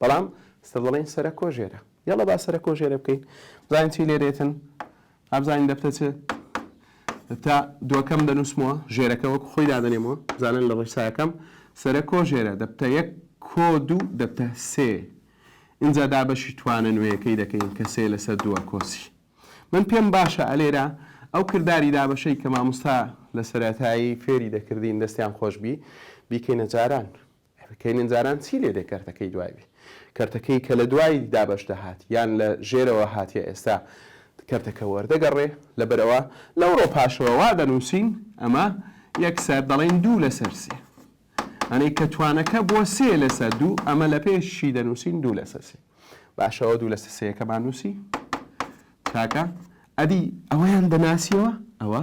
Speaker 1: بەڵام ستە دەڵێن سەرە کۆ ژێرە یاڵە با سەرە کۆ ژێرە بکەین بزانین چی لێرێتن ئابزانین دەبتە چ تا دووەکەم دەنووسمەوە ژێرەکە وەک خۆی دادەنێمەوە زانن لە ڕێساکەم سەرە کۆ ژێرە دەبتە یەک کۆ دوو دەبتە سێ اینجا دابەشی توانە نوێیەکەی دەکەین کە سێ لەسەر دووە کۆسی من پێم باشە ئەلێرە ئەو کردداری دابەشەی کە ماموستا لە سەرەتایی فێری دەکردین دەستیان خۆشببی بیکەینە جاران کەینن جاران چی لێ دێ کەرتەکەی دوای بی کەرتەکەی کە لە دوای دابەش دەهات یان لە ژێرەوە هاتیە ئێستا کەرتەکە وەردەگەڕێ لەبەرئەوە لەوڕۆ پاشەوە وا دەنووسین ئەمە یەکسەر دەڵێن دوو لەسەر سێ ئەنەی کە توانەکە بۆ سێ لەسەر دوو ئەمە لە پێشی دەنووسین دوو لەسەر سێ باشەوە دوو لەسەر سێەکەمان نووسی تاکە ئەدی ئەوەیان دەناسیەوە ئەوە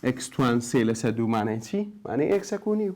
Speaker 1: ئەکسوان سێ لەسەر دوومانای چی مانەی ئەکسەکوونی و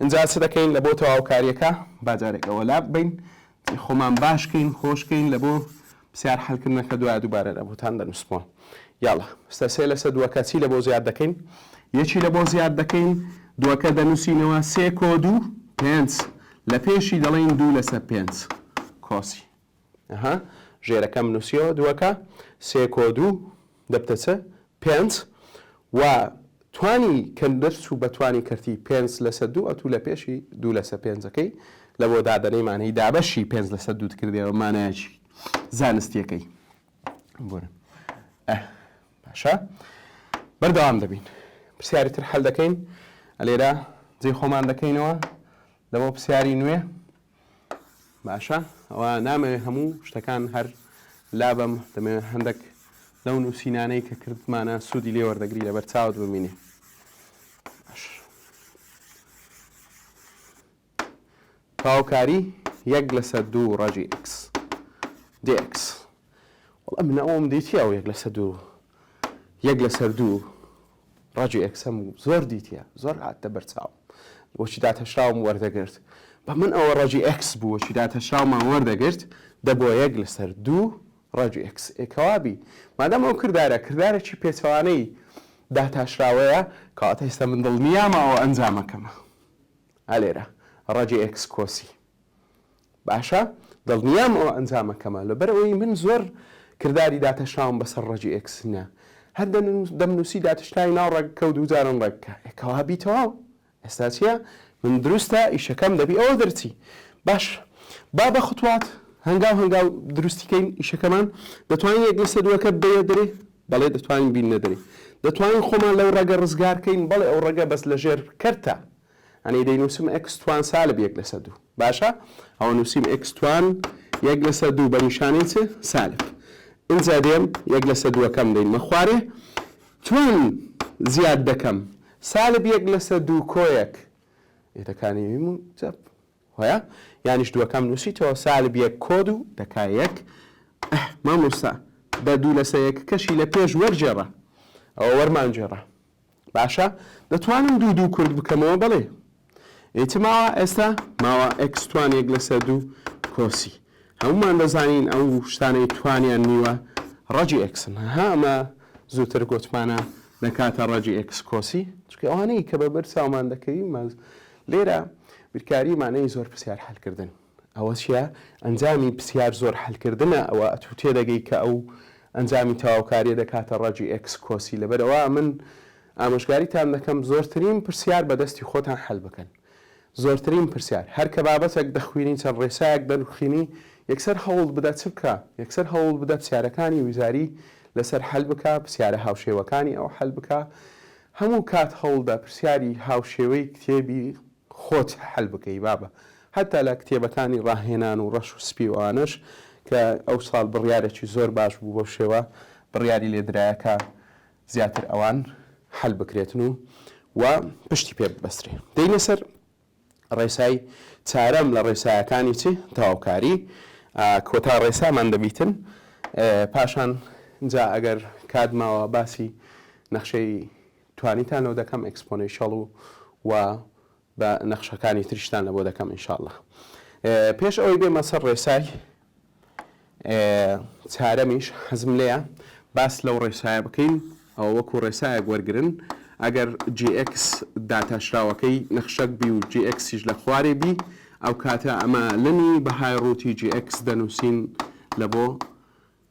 Speaker 1: ئینجا چ دەکەین لە بۆ تەواوکاریەکە با جارێک ئەوە لا ببەین خۆمان باش کەین خۆش کەین لە بۆ پرسیار حەلکردنەکە دوای دووبارە لە بۆتان دەنووسمەوە یاڵا ستە سێ لەسە دووەکە چی لە بۆ زیاد دەکەین یەکی لە بۆ زیاد دەکەین دووەکە دەنووسینەوە سێ کۆ دوو پێنج لە پێشی دەڵێین دوو لەسە پێنج کۆسی ئەها ژێرەکەم نوسیەوە دوەکە سێ کۆ دوو دەبتە چ پێنج وە توانی کە دەرچوو بە توانی کەرتی پێنج لەسە دوو ئەتوو لە پێشی دوو لەسە پێنجەکەی لە بۆ دادەنەی مانەی دابەشی پێنج لەسە دووت کردەوە مانایکی زانستیەکەی بورن ئە باشە بەردەوام دەبین پرسیاری تر حل دەکەین ئەلێرە جێ خۆمان دەکەینەوە لەوە پرسیاری نوێ باشە ئەوە نامەوێ هەموو شتەکان هەر لابەم دەمەوێت هەندێک لەو نووسینانەی کە کردمانە سوودی لێ وەردەگری لەبەر چاوت ببینێ تاوکاری یەک لەسەر دوو ڕژی ئکس دێکس وڵە منە ئەوم دیتی ئەو یەک لەسەر دوو یەک لەسەر دوو ڕاجۆ ئێکس هەموو زۆر دیتیە زۆر هاتتە بەر چاوم وەکی داتهشراوم وەردەگرت بە من ئەوە ڕاجی ئێکس بوو وەکی داتهشراومان وەردەگرت دە بۆ یەک لەسەر دوو ڕاجی ئێکس ئێ کەوابی مادام ئەو کردارە کردارێکی پێچەوانەی داتاشراوەیە کەواتە ئێستا من دڵنیامە ئەوە ئەنجامەکەمە ئالێرە ڕاجی ئێکس کۆسی باشە دڵنیام ئەوە ئەنجامە کەمە لەبەر ئەوەی من زۆر کرداری داتەشناوم بەسەر ڕەگی ئێکس نیە هەر دەم نوسی داتشناوی ناو ڕێگ کەو دوو جارم ڕێگ کە کەوا بیتەوە ئێستا چیە من دروستە ئیشەکەم دەبی ئەوە دەرچی باش با بە خوتوات هەنگاو هەنگاو دروستیکەین ئیشەکەمان دەتوانین یەک لەسە دووەکە بەیە دەێ بەڵێ دەتوانین بین نەدەێ دەتوانین خۆمان لەو ڕێگە ڕزگارکەین بەڵێ ئەو ڕێگە بەس لەژێر کەرتە یانی دەینووسم ئێکس توان سالب یەک لەسەر دوو باشە ئەوە نووسیم ئێکس توان یەک لەسەر دوو بە نیشانەی چ سالب ئینجا دێم یەک لەسەر دووەکەم دەینمە خوارێ توان زیاد دەکەم سالب یەک لەسەر دوو کۆیەک ئێتەکانی ویم و چەپ هۆە یانیش دووەکەم نووسیتەوە سالب یەک کۆد و دەکا یەک مامۆستا دە دوو لەسەر یەک کەشی لە پێش وەرجێڕە ئەوە وەرمانجێڕە باشە دەتوانم دوو دوو کورت بکەمەوە بەڵێ ئیتر ماوە ئێستا ماوە ئەکس توان یەک لەسەر دوو کۆسی هەمومان دەزانین ئەو شتانەی توانیان نیوە ڕەجی ئەکسن ها ئەمە زووتر گۆتمانە دەکاتە ڕەجی ئەکس کۆسی چکە ئەوانەی کە بە بەر چاومان دەکەوی ماز لێرە بیرکاریمانەی زۆر پرسیار حلکردن ئەوە چیە ئەنجامی پسیار زۆر حەل کردنە ئەوە ئەتو تێدەگەی کە ئەو ئەنجامی تەواوکاریە دەکاتە ڕەجی ئێکس کۆسی لەبەر ئەوە ئەمن ئامۆژگاریتان دەکەم زۆرترین پرسیار بە دەستی خۆتان حەل بکەن زۆرترین پرسیار هەر کە بابەتەک دەخوینی چەند ڕێسایەک دەنوخینی یەکسەر هەوڵ بدە چ بکە یەکسەر هەوڵ بدە پسیارەکانی وزاری لەسەر حەل بکە پسیارە هاوشێوەکانی ئەو حەل بکە هەموو کات هەوڵدە پرسیاری هاوشێوەی کتێبی خۆت حل بکەی بابە. هەتا لە کتێبەکانی ڕاهێنان و ڕەش و سپی و ئەوانەش کە ئەو ساڵ بڕیارێکی زۆر باش بوو بەو شێوە بڕیاری لێ درایە کە زیاتر ئەوان حل بکرێتن و و پشتی پێ ببەسرێ. دێینە سەر ڕێسای چارەم لە ڕێسایەکانی چ؟ تەواوکاری. ئا کۆتا ڕێسامان دەبیتن. پاشان جا ئەگەر کات ماوە باسی نەخشەی توانیتان لۆ دەکەم ئێکسپۆنێشەڵ و و بە نەخشەکانی تریشتان لەبۆ دەکەم ان شاء اللە پێش ئەوەی بێمە سەر ڕێسای چارەمیش حەزم لێیە باس لەو ڕێسایە بکەین ئەوە وەکو ڕێسایەک وەرگن ئەگەر GX داتاشراوەکەی نەخشەک بی و GXیش لە خوارێ بی ئەو کاتە ئەمە لەنی بەهای ڕووتی GX دەنووسین لە بۆ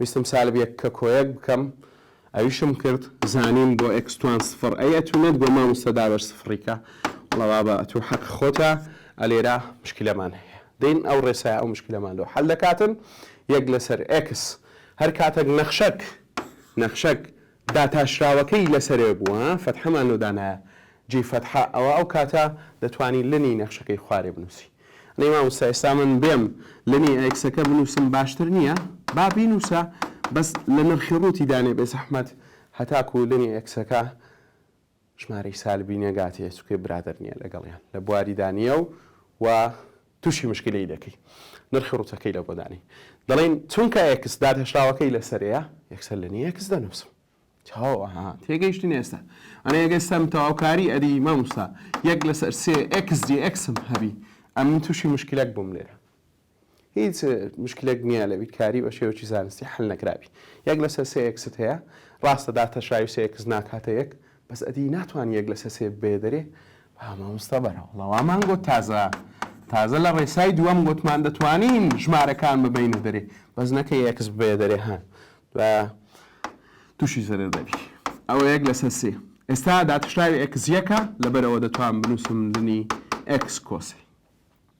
Speaker 1: ویستم سالب یەک کە کۆیەک بکەم ئەویشم کرد زانیم بۆ ئێکس توان سفڕ ئەی ئەتوو نەت گۆ ماموستە دابەش سفڕی کە وڵا بابە ئەتوو حەق خۆتە ئەلێرا مشکلەمان هەیە دین ئەو ڕێسای ئەو مشکلەمان لۆ حەل دەکاتن یەک لەسەر ئێکس هەر کاتەک نەخشەک نەخشەک داتاشراوەکەی لەسەرێ بوو ها فەتحەمان لۆ دانایە جێی فەتحە ئەوە ئەو کاتە دەتوانی لنی نەخشەکەی خوارێ بنووسی ئەی مامۆستا ئێستا من بێم لنی ئێکسەکە بنووسم باشتر نییە با بینووسە بەس لە نرخی ڕووتی دانێ بێزەحمەت هەتاکوو لنی ئێکسەکە ژمارەی سالبی نێگاتیە چونکە برادەر نیە لەگەڵیان لە بواریدا نیە و وا توشی مشکلی دەکەی نرخی ڕوتەکەی لە بۆ دانی دەڵین چونکە ئێکس دادهێشتراوەکەی لەسەرەیە یەکسەر لە نیە ئێکس دەنوسم چاوە ها تێگەیشتن ئێستا ئەنە ئێگەستەم تەواوکاری ئەدی ماموستا یەک لەسەر سێ ئێکس جی ئێکسم هەبی ئەمن توشی مشکلەک بوم لێرە هیچ مشکلەک نییە لە بیرکاری بە شێوەکی زانستی حەل نەکرابی یەک لەسەر سێ ئێکست هەیە ڕاستە داتەشاوی سێ ئێکس ناکاتە یەک بەس ئەدی ناتوانانی یەک لەسەر سێ بێ دەرێ با مامۆستا بەرەوەڵا وامان گۆت تازە تازە لە ڕێسای دووەم گۆتمان دەتوانین ژمارەکان ببینە دەرێ بەس نەکە یەکس ببێ دەرێ هەن و تووشی زەرەر دەبی ئەوە یەک لەسەر سێ ئێستا داتشراوی ئەکس یەکە لەبەرەوە دەتوان بنووسم دنی ئەکس کۆسی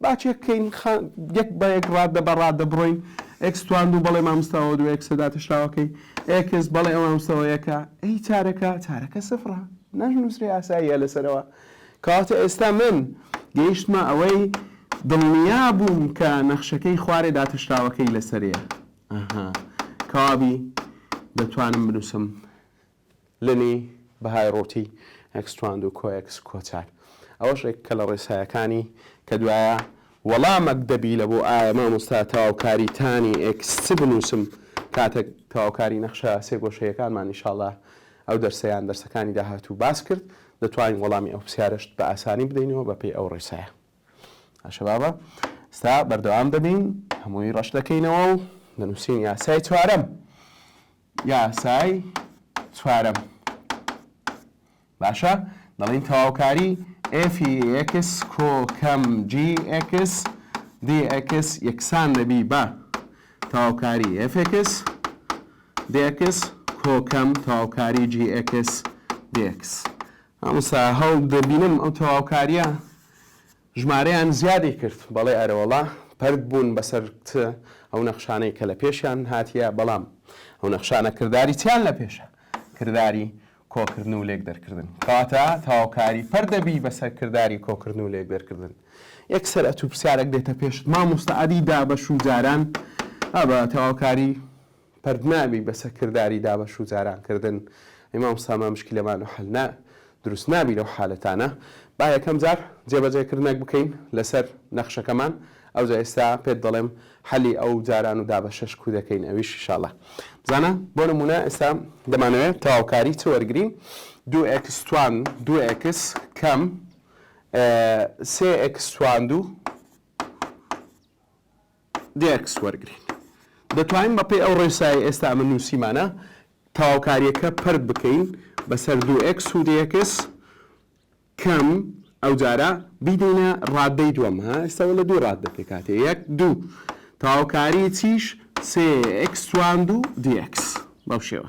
Speaker 1: با چێک بکەین خا یەک بە یەک ڕاددە بە ڕاددە بڕۆین ئێکس توان دوو بەڵێ مامۆستا ئەوە دوو ئێکسە داتەشراوەکەی ئێکس بەڵێ ئەوە مامۆستا ئەوە یەکە ئەی چارەکە چارەکە سفڕە ناشنووسرێ ئاساییە لەسەرەوە کەواتە ئێستا من گەیشتمە ئەوەی دڵنیا بووم کە نەخشەکەی خوارێ داتەشراوەکەی لەسەرەیە ئەها کەوابی دەتوانم بنووسم لنی بەهای ڕووتی، ئەکستواند و کۆێکس کۆچار. ئەوەش ێکە لە ڕێسایەکانی کە دوایە وەڵامەک دەبی لە بۆ ئایا مامۆستا تەواوکاری تانی ئێکس چ بنووسم کاتەک تەواوکاری نەخشە سێ گۆشەیەکانمان ئیشاڵا ئەو دەرسە یان دەرسەکانی داهاتوو باس کرد دەتوانین وەڵامی ئەو پسیارەشت بە ئاسانی بدەینەوە بە پێی ئەو ڕێسایە باشە بابە ستا بەردەوام دەبین هەمووی ڕەش دەکەینەوە و دەنووسین یاسای چوارەم یاسای چوارەم باشە دەڵین تەواوکاری ئێفی ئێکس کۆکەم جی ئێکس دی ئێکس یەکسان دەبی بە تەواوکاری ئێفێکس دێکس کۆکەم تەواوکاری جی ئێکس دێکس هەمسا هەڵ دەبینم ئەو تەواوکاریە ژمارەیان زیادی کرد، بەڵێ ئەرەوەڵا پەرت بوون بەسەر کت ئەو نەخشانەی کە لە پێشیان هاتیە، بەڵام ئەو نەخشانە کرداری چیان لە پێشە؟ کرداری کۆکردن و لێکدەرکردن. کەواتە تەواوکاری پەرت دەبی بەسەر کرداری کۆکردن و لێکدەرکردن. یەکسەر ئەتوو پرسیارەک دێتە پێشت، مامۆستا ئەدی دابەش و جاران ئەبە تەواوکاری پردنابی بە سەکرداری دابەش و جاران کردن ئەی مامۆستا ما مشکلەمان و حەل نا دروست نابی لەو حالەتانە با یەکەم جار جێبەجێ کردنەک بکەین لەسەر نەخشەکەمان ئەوجا ئێستا پێت دەڵێم حەلی ئەو جاران و دابەشەش کو دەکەین ئەویش ان شاء اللە بزانە بۆ نمونە ئێستا دەمانەوێت تەواوکاری چ وەرگرین دوو ئێکس توان دوو ئێکس کەم سێ ئێکس توان دوو دێکس وەرگرین. دەتوانین بەپێی ئەو ڕێسایەی ئێستا ئەمە نووسیمانە، تەواوکارییەکە پەرت بکەین بەسەر دوو ئێکس و دێکس کەم، ئەوجارە بیدەینە ڕاددەی دووەم. ها ئێستا وەلە دوو ڕاددە پێکهاتەیە، یەک، دوو. تەواوکاریی چیش؟ سێ ئێکس توان دوو دێکس. بەو شێوە.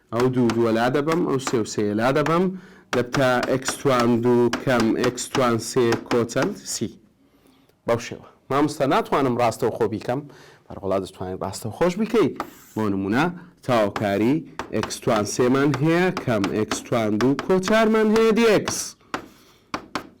Speaker 1: ئەو دوو دووە لادەبەم ئەو سێ و سێیە لادەبەم دەبتە ئێکس توان دوو کەم ئێکس توان سێ کۆ چەند؟ سی بەو شێوە مامۆستا ناتوانم ڕاستەوخۆ بیکەم بەرەوەڵا دەتوانین ڕاستەوخۆش بیکەیت بۆ نمونە تەواوکاری ئێکس توان سێمان هەیە کەم ئێکس توان دوو کۆ چارمان هەیە دی ئێکس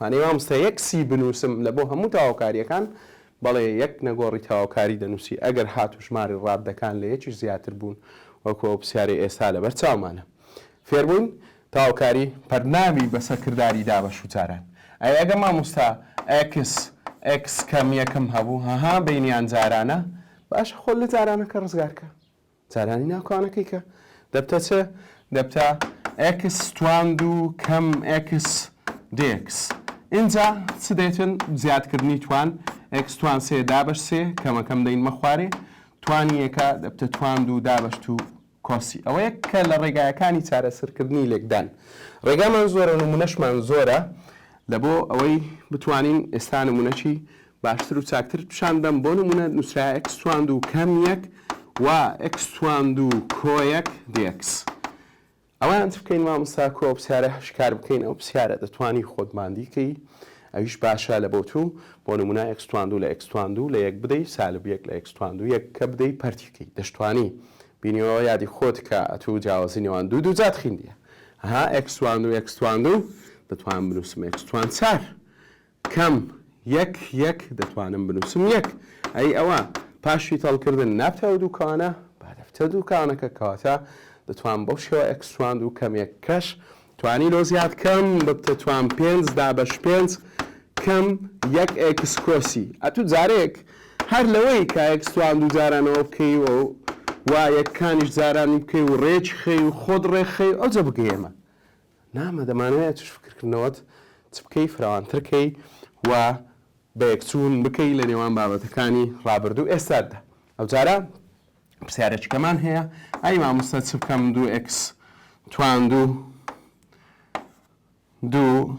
Speaker 1: مانەی مامۆستا یەک سی بنوسم لە بۆ هەموو تەواوکاریەکان بەڵێ یەک نەگۆڕی تەواوکاری دەنوسی ئەگەر هاتو ژماری ڕاددەکان لە یەکیش زیاتر بوون وەکو ئەو پسیارەی ئێستا لەبەر چاومانە فێربووین تەواوکاری پەرناوی بە سەکرداری دا بە شو جاران ئەی ئەگە مامۆستا ئێکس ئێکس کەم یەکم هەبوو هەها بینیان جارانە باشە خۆت لە جارانەکە ڕزگارکە جارانی ناو کانەکەی کە دەبتە چ؟ دەبتە ئێکس توان دوو کەم ئێکس دێکس. ئینجا چ دێتن؟ زیادکردنی توان ئێکس توان سێ دابەش سێ کەمەکەم دەینمە خوارێ. توانی یەکە دەبتە توان دوو دابەش توو کۆسی. ئەوە یەک کە لە ڕێگایەکانی چارەسەرکردنی لێکدان. ڕێگامان زۆرە نموونەشمان زۆرە لە بۆ ئەوەی بتوانین ئێستا نموونەکی باشتر و چاکترت پیشان دەم بۆ نمونە نوسرا ئێکس تواندو کەم یەک و ئێکس تواندو کۆ یەک دێکس ئەوان بکەین مامۆستا کۆ پسیارە هەشکار بکەین ئەو پسیارە دەتوانی خۆت باندیکەی ئەویش باشە لە بۆ تو بۆ نمونە ئێکس تواندو لە ئێکس تواندو لە یەک بدەی سالب یەک لە ئێکس تواندو یەک کە بدەی پەرتیکەی دەشتوانی بینیەوە یادی خۆت کە ئەتو جیاوازی نێوان دوو دوو جات خیندیە ها ئێکس تواندو ئێکس تواندو دەتوان بنوسم ئێکس توان چار کەم، یەک یەک دەتوانم بنووسم یەک. ئەی ئەوە پاش فیتەڵکردن نابتەوە دوو کانە؟ با دەبتە دوو کانەکە کەواتە دەتوانم بەو شێوە ئێکس توان دوو کەم یەک کەش توانی لۆ زیاد کەم ببتە توان پێنج دابەش پێنج کەم یەک ئێکس کۆسی ئەتوو جارێک هەر لەوەی کە ئێکس توان دوو جارانەوە بکەیەوە و وا یەکانیش جارانی بکەی و ڕێکی خەی و خۆت ڕێکخەی ئەوجە بگەیەمە نامە دەمانەوێت توش فکرکردنەوەت چ بکەی فراوانتر کەی و بەیەکچوون بکەی لە نێوان بابەتەکانی ڕابردوو ئێستاددا ئەوجارە پرسیارێکەکەمان هەیە ئای مامۆستا چ بکەم دوو ئکس توان دوو دوو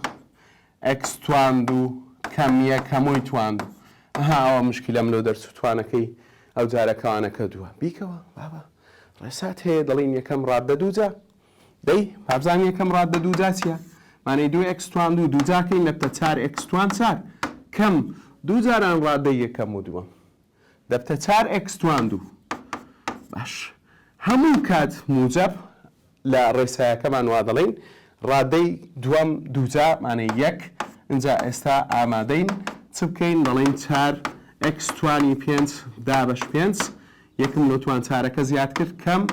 Speaker 1: ئەکس توان دوو کەم یەک هەمووی توان دوو ئەها ئەوە مشکلەم لۆ دەرچ و توانەکەی ئەو جارەکەوانەکە دووە بیکەوە بابە ڕێسات هەیە دەڵین یەکەم ڕاددە دووجە دەی بابزانم یەکەم ڕاد بە دووجا چیە؟ مانەی دوو ئێکس توان دوو دووجاکەی نەبتە چار ئێکس توان چار کەم دوو جاران ڕادەی یەکەم و دووەم دەبتە چار ئێکس توان دوو باش هەموو کات موجەب لە ڕێسایەکەمان وا دەڵین ڕادەی دووەم دووجا مانەی یەک اینجا ئێستا ئامادەین چ بکەین دەڵین چار ئێکس توانی پێنج دابەش پێنج یەکم لۆ توان چارەکە زیاد کرد کەم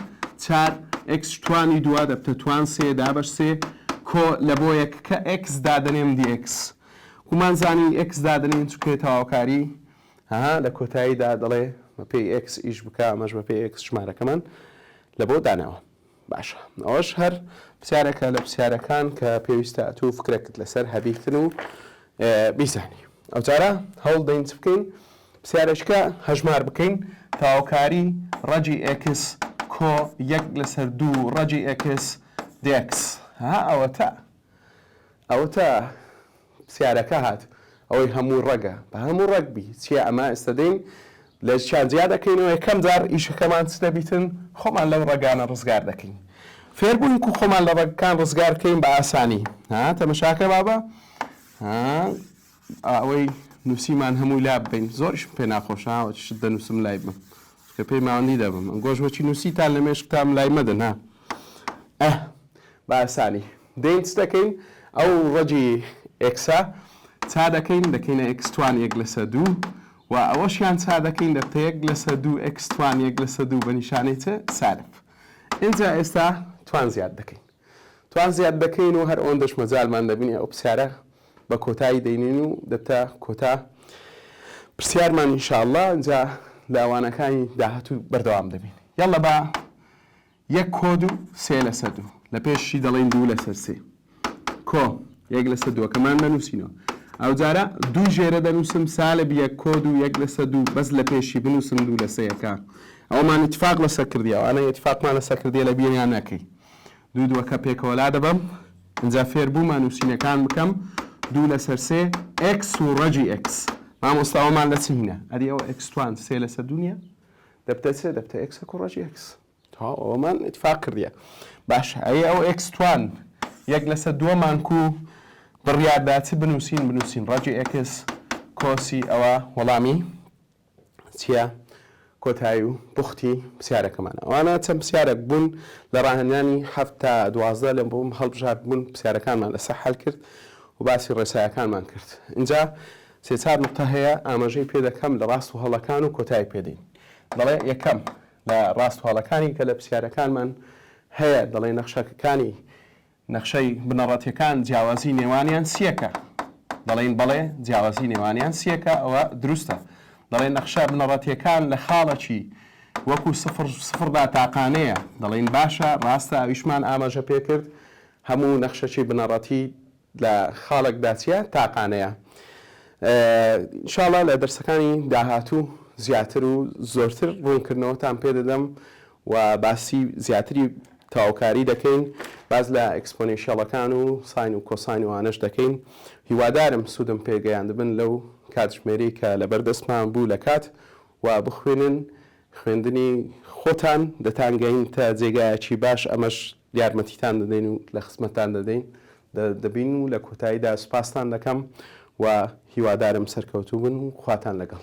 Speaker 1: چار ئێکس توانی دووە دەبتە توان سێ دابەش سێ کۆ لە بۆ یەک کە ئێکس دادەنێم دی ئێکس ومان زانی ئێکس دادەنین چکێ تەواوکاری هەها لە کۆتاییدا دەڵێ بە پێی ئێکس ئیش بکە ئەمەش بە پێی ئێکس ژمارەکەمان لە بۆ داناوە. باشە ئەوەش هەر پرسیارێکە لە پرسیارەکان کە پێویستە ئەتوو فکرێکت لەسەر هەبیتن و بیزانی ئەو جارە هەوڵ دەین چ بکەین پرسیارێکە هەژمار بکەین تاوکاری ڕەجی ئێکس کۆ یەک لەسەر دوو ڕەجی ئێکس دێکس ها ئەوەتە ئەوەتا پسیارەکە هات ئەوەی هەموو ڕەگە بە هەموو ڕەگ بی چیە ئەمە ئێستە دێین لە چیان جیا دەکەینەوە یەکەم جار ئیشەکەمان چ دەبیتن خۆمان لەو ڕەگانە ڕزگار دەکەین فێربووین کو خۆمان لە ڕەگەکان ڕزگار کەین بە ئاسانی ها تەمەشاکە بابە ها ئەوەی نوسیمان هەمووی لاببەین زۆریشم پێ ناخۆشە ئەوە شت دەنوسم لای بم چونکە پێی ماوەندی دەبم گۆش وەچی نوسیتان لە مێشکتام لای مەدەن ها ئەه باسانی دەین چ دەکەین ئەو ڕەجی ئێکسە چا دەکەین دەکەینە ئێکس توان یەک لەسە دوو و ئەوەشیان چا دەکەین دەبتە یەک لەسە دوو ئێکس توان یەک لەسە دوو بە نیشانەی چ سالب ئینجا ئێستا توان زیاد دەکەین توان زیاد دەکەین و هەر ئەوەندەش مەجالمان دەبینێ ئەو پرسیارە بە کۆتایی دەینین و دەبتە کۆتا پرسیارمان ان شاء اللە جا لە وانەکانی داهاتوو بەردەوام دەبین یاڵڵە با یەک کۆد و سێ لەسەر دوو لە پێشی دەڵێن دوو لەسەر سێ کۆ یەک لەسەر دووەکەمان دەنووسینەوە ئەو جارە دوو ژێرە دەنووسم سالب یەک کۆد و یەک لەسە دوو بەس لە پێشی بنووسم دوو لەسەیەکە ئەومان اتفاق لەسەر کردی ئەوانە اتفاقمان لەسەر کردی لە بیریان نەکەی دوو دووەکە پێکەوە لادەبەم ئینجا فێربوومە نووسینەکان بکەم دوو لەسەر سێ ئێکس و ڕەجی ئێکس مامۆستا ئەومان لە چی هینە ئەدی ئەو ئێکستوان سێ لەسەر دوو نییە دەبتە چێ دەبتە ئێکسە و ڕەجی ئێکس تەواو ئەوەمان ئیتفاق کردیە باش ئەی ئەو ئێکستوان یەک لەسەر دووە مانکو بڕیاردا چ بنووسین بنووسین ڕەجی ئێکس کۆسی ئەوە وەڵامی چیە کۆتایی و بوختی پسیارەکەمان ئەوانە چەند پسیارەک بوون لە ڕاهێنانی هەفت تا دوازدە لە بۆم هەڵبژارد بوون پسیارەکانمان لەسەر حل کرد و باسی ڕێسایەکانمان کرد اینجا سێ چار نقطە هەیە ئاماژەی پێ دەکەم لە ڕاست و هەڵەکان و کۆتایی پێدەین دەڵێ یەکەم لە ڕاست هەڵەکانی کە لە پسیارەکانمان هەیە دەڵێ نەخشەکەکانی نەخشەی بنەڕەتیەکان جیاوازی نێوانیان سیەکە دەڵێین بەڵێ جیاوازی نێوانیان سیەکە ئەوە دروستە دەڵێن نەخشە بنەڕەتیەکان لە خاڵەکی وەکو سفر سفردا تاقانەیە دەڵێن باشە ڕاستە ئەویشمان ئاماژە پێکرد هەموو نەخشەکی بنەڕەتی لە خاڵک داچیە تاقانەیە شاڵە لە دەرسەکانی داهاتوو زیاتر و زۆرتر ڕوونکردنەوەتان پێدەدەم و باسی زیاتری تەواوکاری دەکەین باس لە ئێکسپۆنێنشیەڵەکان و ساین و کۆساین و ئانەش دەکەین هیوادارم سودم پێ گەیاندبن لەو کاتژمێرەی کە لەبەر دەستمان بوو لە کات و بخوێنن خوێندنی خۆتان دەتان گەینتە جێگایەکی باش ئەمەش یارمەتیتان دەدەین و لە خزمەتتان دەدەین دەبین و لە کۆتاییدا سوپاستان دەکەم و هیوادارم سەرکەوتوو بن و خواتان لەگەڵ.